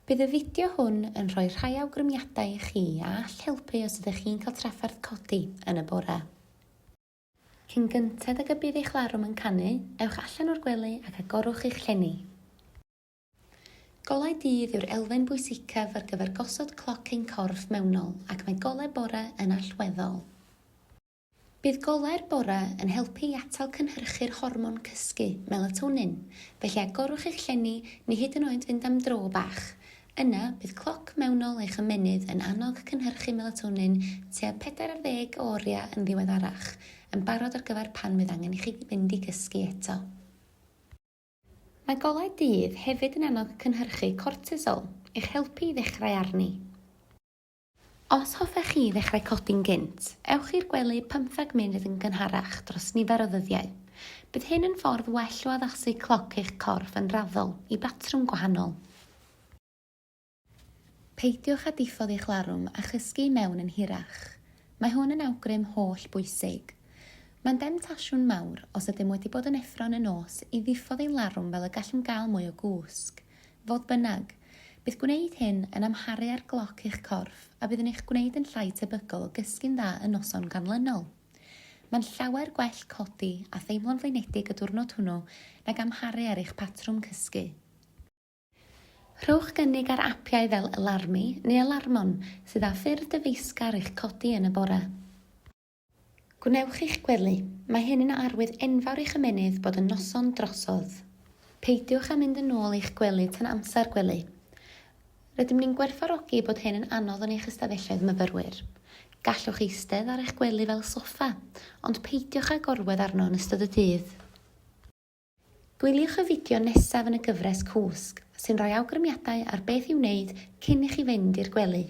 Bydd y fideo hwn yn rhoi rhai awgrymiadau i chi a all helpu os ydych chi'n cael trafferth codi yn y bore. Cyn gynted ag y bydd eich larwm yn canu, ewch allan o'r gwely ac agorwch eich llenni. Golau dydd yw'r elfen bwysicaf ar gyfer gosod cloc ein corff mewnol ac mae golau bore yn allweddol. Bydd golau'r bore yn helpu i atal cynhyrchu'r hormon cysgu, melatonin, felly agorwch eich llenni neu hyd yn oed fynd am dro bach. Yna, bydd cloc mewnol eich ymennydd yn annog cynhyrchu melatonin tua 40 o oriau yn ddiweddarach, yn barod ar gyfer pan fydd angen i chi fynd i gysgu eto. Mae golau dydd hefyd yn annog cynhyrchu cortisol, eich helpu i ddechrau arni. Os hoffech chi ddechrau codi'n gynt, ewch i'r gwely pymtheg munud yn gynharach dros nifer o ddyddiau. Bydd hyn yn ffordd well o addasu cloc eich corff yn raddol i batrwm gwahanol. Peidiwch â diffodd eich larwm a chysgu i mewn yn hirach. Mae hwn yn awgrym holl bwysig. Mae'n demtasiwn mawr, os ydym wedi bod yn effro yn y nos, i ddiffodd ein larwm fel y gallwn gael mwy o gwsg. Fodd bynnag, bydd gwneud hyn yn amharu ar gloc eich corff a bydd yn eich gwneud yn llai tebygol o gysgu'n dda yn noson ganlynol. Mae'n llawer gwell codi a theimlo'n flinedig y diwrnod hwnnw nag amharu ar eich patrwm cysgu. Rhowch gynnig ar apiau fel Alarmy neu Alarmon sydd â ffyrdd dyfeisgar i'ch codi yn y bore. Gwnewch eich gwely, mae hyn yn arwydd enfawr i'ch ymennydd bod yn noson drosodd. Peidiwch â mynd yn ôl i'ch gwely tan amser gwely. Rydym ni'n gwerthfawrogi bod hyn yn anodd yn eich ystafelloedd myfyrwyr. Gallwch eistedd ar eich gwely fel soffa, ond peidiwch â gorwedd arno yn ystod y dydd. Gwyliwch y fideo nesaf yn y gyfres Cwsg, sy'n rhoi awgrymiadau ar beth i'w wneud cyn i chi fynd i'r gwely.